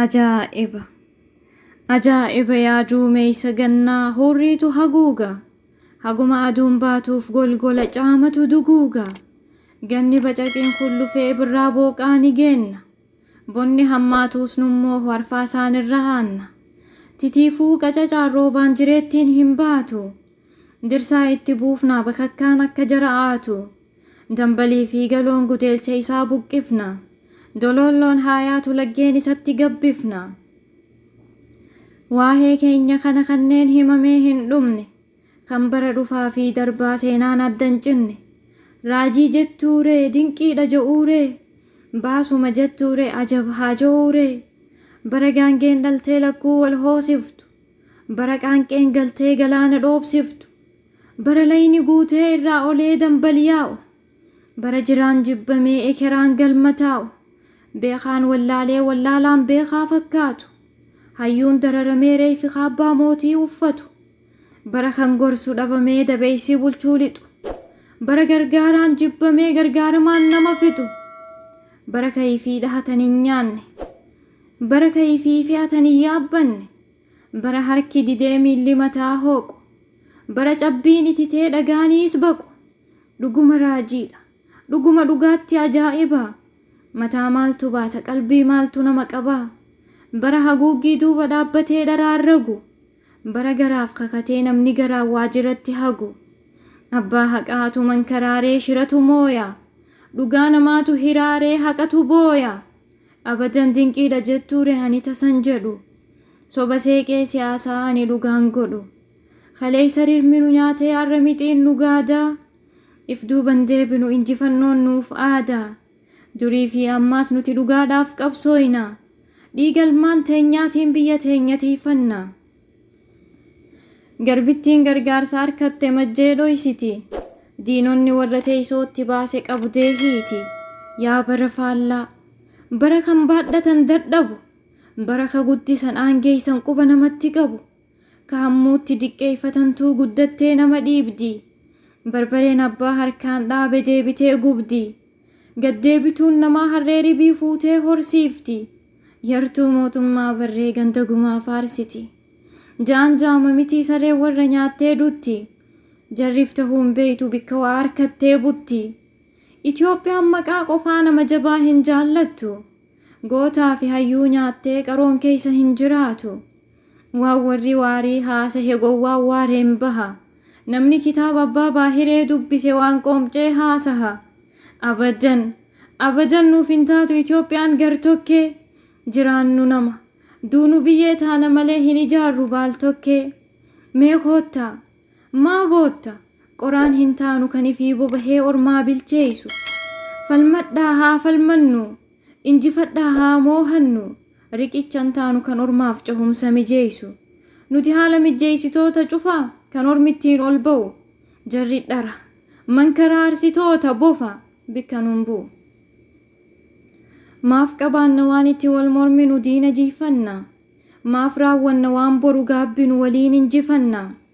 Ajaa'iba! Ajaa'iba yaa duumeysa gannaa hurriitu haguuga. Haguma aduun baatuuf golgola caamatu duguuga. Ganni bacaqiin kullufee birraa booqaa ni geenna. Bonni hammaatuus nummoo hwarfaa isaan irra haanna. Titiifuu qacacaan roobaan jireettiin hin baatu. Dirsaa itti buufnaa bakakkaan akka jara aatu. Dambalii fi galoon guteelcha isaa buqqifna. Doloolloon haa yaatu laggeen isatti gabbifna. Waahee keenya kana kanneen himamee hin dhumne. Kan bara dhufaa fi darbaa seenaan adda hin cinne. Raajii jettuu ree dinqii dha jo'uu ree? Baasuma jettuu ree ajab haa jo'uu ree? Bara gaangeen dhaltee lakkuu wal hoosiftu. Bara qaanqeen galtee galaana dhoobsiftu. Bara layni guutee irraa olee dambal yaa'u. Bara jiraan jibbamee ekeraan galma taa'u. Beekaan wallaalee wallaalaan beekaa fakkaatu. Hayyuun dararamee reeyfi kaabbaa mootii uffatu. Bara kan gorsu dhabamee dabeeysii bulchuu lixu. Bara gargaaraan jibbamee gargaaramaan nama fixu. Bara kayfii dhahatan hin nyaanne. Bara kayfii fe'atan hin yaabbanne. Bara harki didee miilli mataa hooqu. Bara cabbiin ititee dhagaaniis baqu. Dhuguma raajiidha. Dhuguma dhugaatti ajaa'iba. Mataa maaltu baata qalbii maaltu nama qaba. Bara haguuggii duuba dhaabbatee dharaa ragu. Bara garaaf kakatee namni garaan waajiratti hagu Abbaa haqaatu mankaraaree shiratu mooya Dhugaa namaatu hiraaree haqatu booya Abadan dinqiidha jettuure ani tasan jedhu Soba seeqee siyaasaa ani dhugaan godhu Kaleessa rirmi nu nyaatee har'a mixiin nu gaada If duuban deebinu injifannoon nuuf aada. Durii fi ammaas nuti dhugaadhaaf qabsooyna. Dhiiga ilmaan teenyaatiin biyya teenya tiiyfanna. Garbittiin gargaarsa arkatte majjee dhoysiti. Diinonni warra teeysoo itti baase qabdee hiiti. Yaa bara faallaa! Bara kan baadhatan dadhabu. Bara ka guddisan aangeeysan quba namatti qabu. Ka hammuutti diqqeeyfatantuu guddattee nama dhiibdi. Barbareen abbaa harkaan dhaabe deebitee gubdi. Gad deebituun namaa harree ribii fuutee horsiifti. Yartuu mootummaa barree ganda gumaa faarsiti. Jaan jaama mitii sareen warra nyaattee dutti. Jarrif tahuu hin beeytu bikka waa arkattee butti. Itoophiyaan maqaa qofaa nama jabaa hin jaallattu. Gootaa fi hayyuu nyaattee qaroon keeysa hin jiraatu. Waan warri Waarii haasahe gowwaan waareen baha. Namni kitaaba Abbaa Baahiree dubbise waan qoomcee haasaha. Abadan! Abadan nuuf hin taatu Itoophiyaan gar-tokkee! Jiraannu nama, duunu biyyee taana malee hin ijaarru baal-tokkee! Mee koottaa! Maa bootta? Qoraan hin taanu kan ifii bobahee ormaa bilcheessu. Falmadhaa haa falmannu! Injifadhaa haa moohannu! Riqichan taanu kan ormaaf cehumsa mijeessu. Nuti haala mijjeessitoota cufa kan ormi ittiin ol ba'u. Jarri dhara. Mankaraarsitoota bofa bikka nun bu'u. Maaf qabaanna waan itti wal morminu diina jihfanna? Maaf raawwanna waan boru gaabbinu waliin injifanna?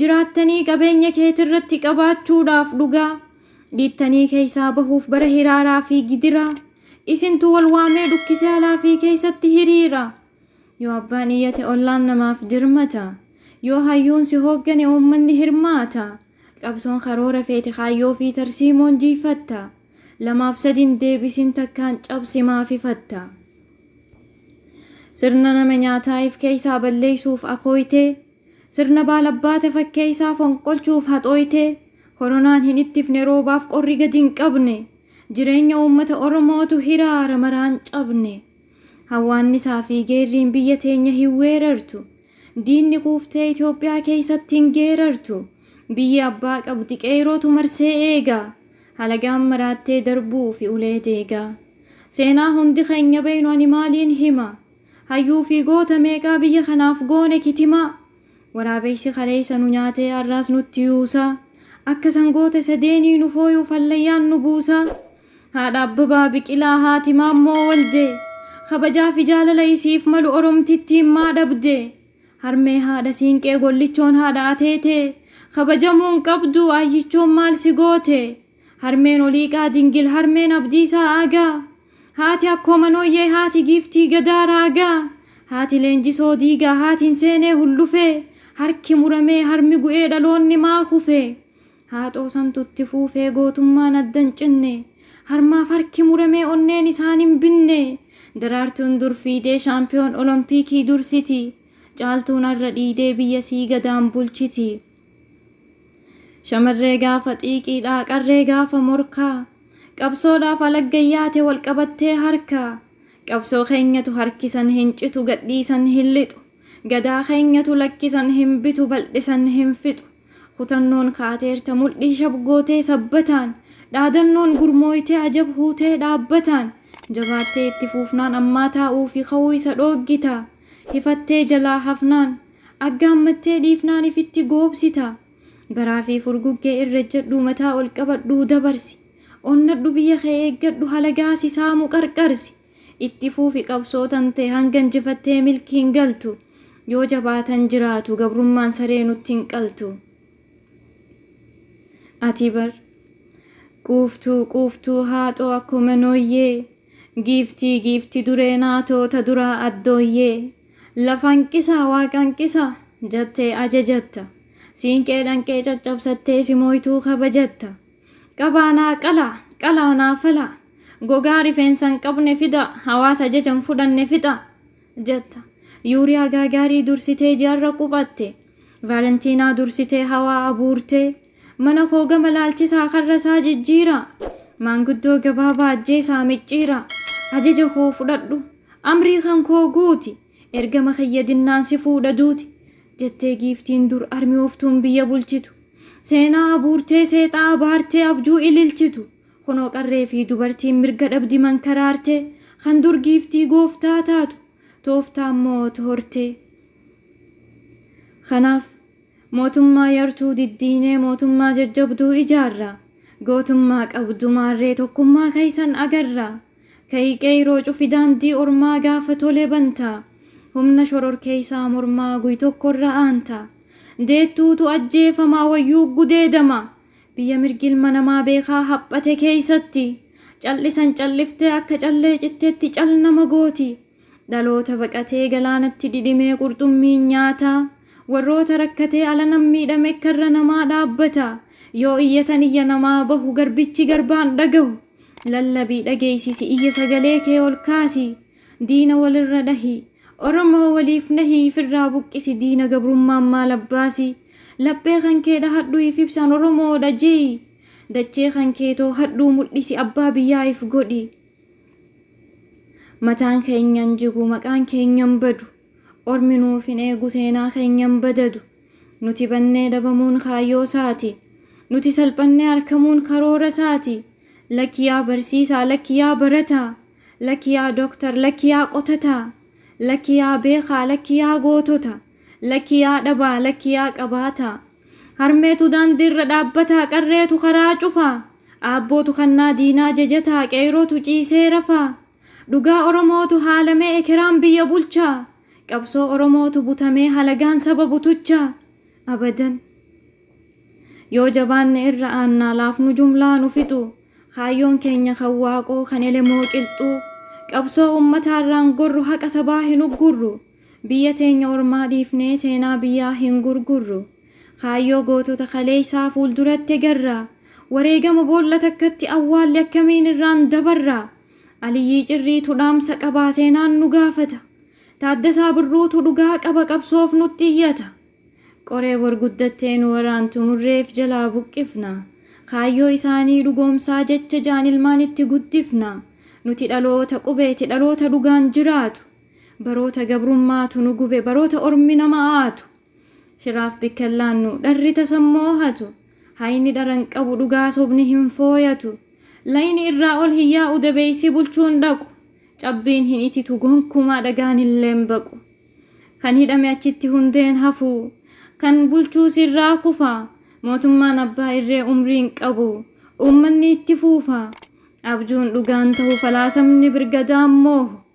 jiraattanii qabeenya keetirratti qabaachuudhaaf dhugaa dhiittanii keeysaa bahuuf bara hiraaraa fi gidiraa isintu wal waamee dhukkise alaa fi keeysatti hiriira yoo abbaan iyyate ollaan namaaf dirmata yoo hayyuun si hooggane uummanni hirmaata qabsoon karoora feete kaayyoo fi tarsiimoon jiifatta lamaaf sadin deebisin takkaan cabsi maaf ifatta sirna nama nyaataaif keeysaa balleeysuuf akooytee Sirna baalabbaata fakkeessaa fonqolchuuf haxooytee, koronaan hin ittifne roobaaf qorri gadi hin qabne, jireenya uummata Oromootu hiraara maraan cabne. Hawwaannisaa fi geerriin biyya teenya hin weerartu. Diinni quuftee Itoophiyaa keessatti hin geerartu. Biyyi abbaa qabdi qeeyrootu marsee eega. Halagaan maraattee darbuufi ulee deega. Seenaa hundi keenya beeynu ani maaliin hima? Hayyuu fi goota meeqaa biyya kanaaf goone kitimaa Waraabeysi kaleeysa nu nyaatee arraas nutti yuusaa Akka sangoota isa deenii nu fooyuuf hallayyaan nu buusaa Haadha Abbabaa Biqilaa haati Maammoo Woldee Kabajaa fi jaalala isiif malu Oromtittiin maa dhabdee Harmee haadha Siinqee Gollichoon haadha Ateetee Kabajamuu hin qabduu Aayyichoon maal si gootee Harmeen Oliiqaa Dingil Harmeen Abdiisaa Aagaa Haati Akkoo Manooyyee Haati Giiftii Gadaa Raagaa Haati Leenjisoo Diigaa Haati hin seenee hullufee Harki muramee harmi gu'ee dhaloonni maa kufee Haaxoo santu itti fuufee gootummaan adda hin cinne Harmaaf harki muramee onneen isaan hin binne Daraartuun dur fiidee shaampiyoon olompiikii dursiti Caaltuun har'a dhiidee biyya sii Gadaan bulchiti. Shamarree gaafa xiiqiidhaa qarree gaafa morkaa Qabsoodhaaf alagga yaate wal qabattee harkaa Qabsoo keenyatu harkisan hin citu gadhiisan hin lixu Gadaa keenyatu lakkisan hin bitu baldhisan hin fixu Kutannoon kaateerta mudhii shab gootee sabbataan Dhaadannoon gurmooytee ajab huutee dhaabbataan Jabaattee itti fuufnaan ammaa taa'uufi ka'uu isa dhooggitaa Hifattee jalaa hafnaan. Aggaammattee dhiifnaan ifitti goobsita. Baraa fi furguggee irra ejjadhuu mataa ol qabadhuu dabarsi. Onnadhu biyya kee eeggadhu halagaa si saamu qarqarsi. Itti fuufi qabsoo tan tee hanga injifattee milkiin galtu. Yoo jabaatan jiraatu gabrummaan saree nutti hin qaltu. Ati bar. Quuftuu quuftuu haaxoo akkuma nooyyee. Giiftii giifti duree naatoo ta duraa addooyyee Lafa hanqisaa waaqa hanqisaa jattee ajajatta Siinqee dhanqee caccabsattee si mooytuu kabajatta Qabaa naa qalaa qalaa naa falaa Gogaa rifeensa hin qabne fidaa Hawaasa ajaja hin fudhanne fixaa jatta Yuuriyaa gaagaarii dursitee ji'arra quphatte Vaalentiinaa dursitee hawaa abuurtee Mana koo gama laalchisaa karra isaa jijjiira. Maanguddoo gabaabaa ajjeesaa micciira. Ajaja koo fudhadhu, amrii kan koo guuti. Ergama kiyya dinnaan si fuudha duuti. Jettee giiftiin dur armiyooftuun biyya bulchitu. Seenaa abuurtee seexaa abaartee abjuu ililchitu. Kunoo qarree fi dubartiin mirga dhabdi mankaraartee. Kan dur giiftii gooftaa taatu tooftaa immoo hortee. Kanaaf Mootummaa yartuu diddiinee mootummaa jajjabduu ijaarra. Gootummaa qabdu maarree tokkummaa keessan agarra. Ka'i qeeyroo cufi daandii ormaa gaafa tole banta. Humna shororkeeysaa mormaa guy-tokkorra aanta. Deettuutu ajjeefama wayyuu gudeedama. Biyya mirgi ilma namaa beekaa haphate keeysatti. Cal'isan cal'iftee akka callee cittetti cal nama gooti. Dhaloota baqatee galaanatti dhidhimee qurxummiin nyaata. Warroota rakkatee alanan miidhame karra namaa dhaabbata. Yoo iyyatan iyya namaa bahu garbichi garbaan dhagahu. Lallabii dhageessisi iyya sagalee kee ol kaasi. Diina walirra dhahi. Oromoo waliif nahi ifirraa buqqisi diina gabrummaan maal abbaasi. Laphee kan kee dhahadhu if ibsaan Oromoodha je'i. Dachee kan kee toohadhuu mul'isi abbaa biyyaa if godhi. Mataan keenya hin jigu, maqaan keenya hin badu. Ormi nuuf hin eegu, seenaa keenya hin badadu. Nuti bannee dhabamuun kaayyoo isaati. Nuti salphannee arkamuun karoora isaati. Lakki yaa barsiisaa, lakki yaa barataa. Lakki yaa doktar, lakki yaa qotataa. Lakki yaa beekaa, lakki yaa gootota. Lakki yaa dhabaa, lakki yaa qabaataa. Harmeetu daandiirra dhaabbataa, qarreetu karaa cufaa. Aabbootu kannaa diinaa jajataa, qeeyrootu ciisee rafaa. Dhugaa Oromootu haalamee ekeraan biyya bulchaa. Qabsoo Oromootu butamee halagaan saba butuchaa. Abadan! Yoo jabaanne irra aannaa, laafnu jumlaa nu fixuu. Kaayyoon keenya kan Waaqoo, kan Elemoo qilxuu. Qabsoo ummataarraan gorru, haqa sabaa hin uggurru. Biyya teenya ormaa dhiifnee seenaa biyyaa hin gurgurru. Kaayyoo gootota kaleessaa fuulduratti egarra. Wareegama boolla takkatti awwaalle akkamiin irraan dabarra? Aliyyii Cirriitu dhaamsa qaba seenaan nu gaafata. Taaddasaa Birruutu dhugaa qaba qabsoof nutti iyyata. Qoree bor guddattee nu waraantu murreef jalaa buqqifna. Kaayyoo isaanii dhugoomsaa jecha jaan ilmaan itti guddifna. Nuti dhaloota qubeeti, dhaloota dhugaan jiraatu. Baroota gabrummaatu nu gube baroota ormi nama aatu Shiraaf bikkan laannu dharri tasan moohatu Hayni dhara hin qabu dhugaa sobni hin fooyatu Layni irraa ol hin yaa'u dabeeysi bulchuu hin dhaqu Cabbiin hin ititu gonkumaa dhagaan illee hin baqu Kan hidhame achitti hundee hin hafu Kan bulchuus irraa kufa Mootummaan abbaa irree umrii hin qabu Uummanni itti fuufa Abjuun dhugaan tahu falaasamni birgadaan moohu